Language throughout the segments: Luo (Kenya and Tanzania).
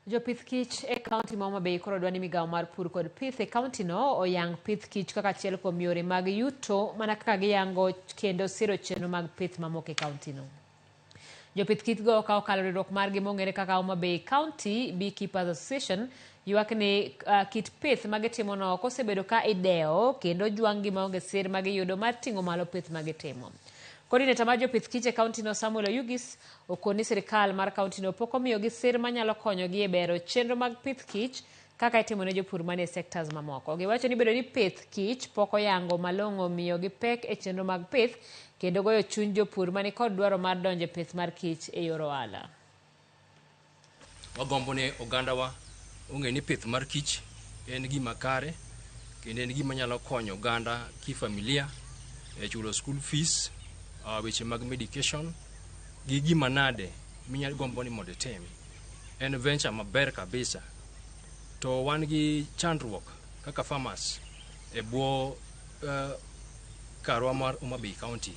Jopith kich e kaunti ma Homa Bay koro dwani migawo mar pur kod pith e kauntino oyang pith kich kaka achiel kuom yore mag yuto mana kaka giyango kendo siro chenro mag pith mamoko e kauntino. Jopith kichgo ka okalo riwruok margi mong'ere kaka Homa Bay County Beekeepers Association ywak ni uh, kit pith ma gitimono ok osebedo ka idewo kendo jwang'gi maonge sir ma giyudo mar ting'o malo pith ma gitimo. Kodineta mar jopith kich e kauntino Samuel Oyugis Okon ni sirkal mar kauntino pok omiyogi sir manyalo konyogi e bero chenro mag pith kich kaka itimo ne jopur manie sectors mamoko. Giwacho ni bedo ni pith kich pok oyango malong'o miyo gi pek e chenro mag pith kendo goyo chuny jopur mani kod dwaro mar donjo e pith mar kich e yor ohala. Wagombo ni ogandawa ong'e ni pith mar kich en gima kare kendo en gima nyalo konyo oganda kifamilia e chulo school fees, uh, weche mag medication gi gima nade minyalo gombo ni mondo itim. En venture maber kabisa. To wan gi chandruok kaka farmers e bwo uh, karwa mar Homa Bay County.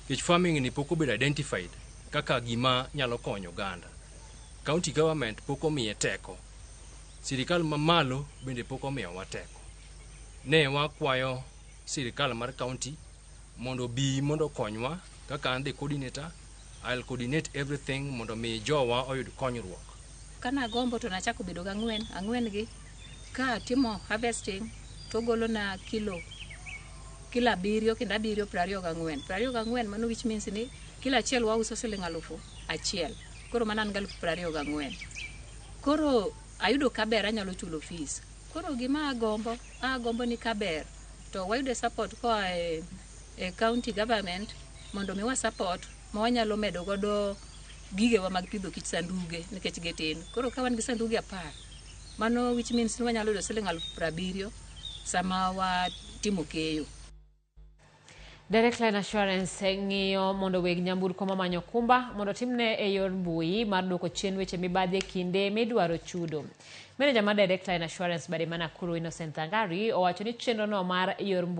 Kech farming ni pok obedo identified kaka gima nyalo konyo oganda. County government pok omiye teko. Sirikal mamalo bende pok omiyowa teko. Ne wakwayo sirikal mar county mondo obi mondo okonywa kaka an the coordinator, I'll coordinate everything mondo mi jowa oyud konyruok. Kana gombo to nachako bedo gang'wen, ang'wen gi Ka atimo harvesting to ogolona kilo kilo abiriyo kendo abiriyo piero ariyo gang'wen. Piero ariyo gang'wen mano which means ni kilo achiel wauso siling' alufu achiel. Koro mano an galufu piero ariyo gang'wen. Koro ayudo kaber anyalo chulo fees. Koro gima agombo, agombo ni kaber to wayude support koa e e county government mondo omiwa support ma wanyalo medo godo gigewa mag pidho kich, sanduge nikech gitindo. Koro ka wan gi sanduge apar Mano which means ni wanyalo yudo siling aluf prabiriyo sama watimo keyo. Direct Line Assurance eh, ng'iyo mondo weg nyamburko mamanyo okumba mondo otimne e yor mbui mar duoko chien weche mibadhi e kinde midwaro chudo. Meneja mar Direct Line Assurance Bademana Kuru Innocent Thangari owacho ni chenrono mar yor mbui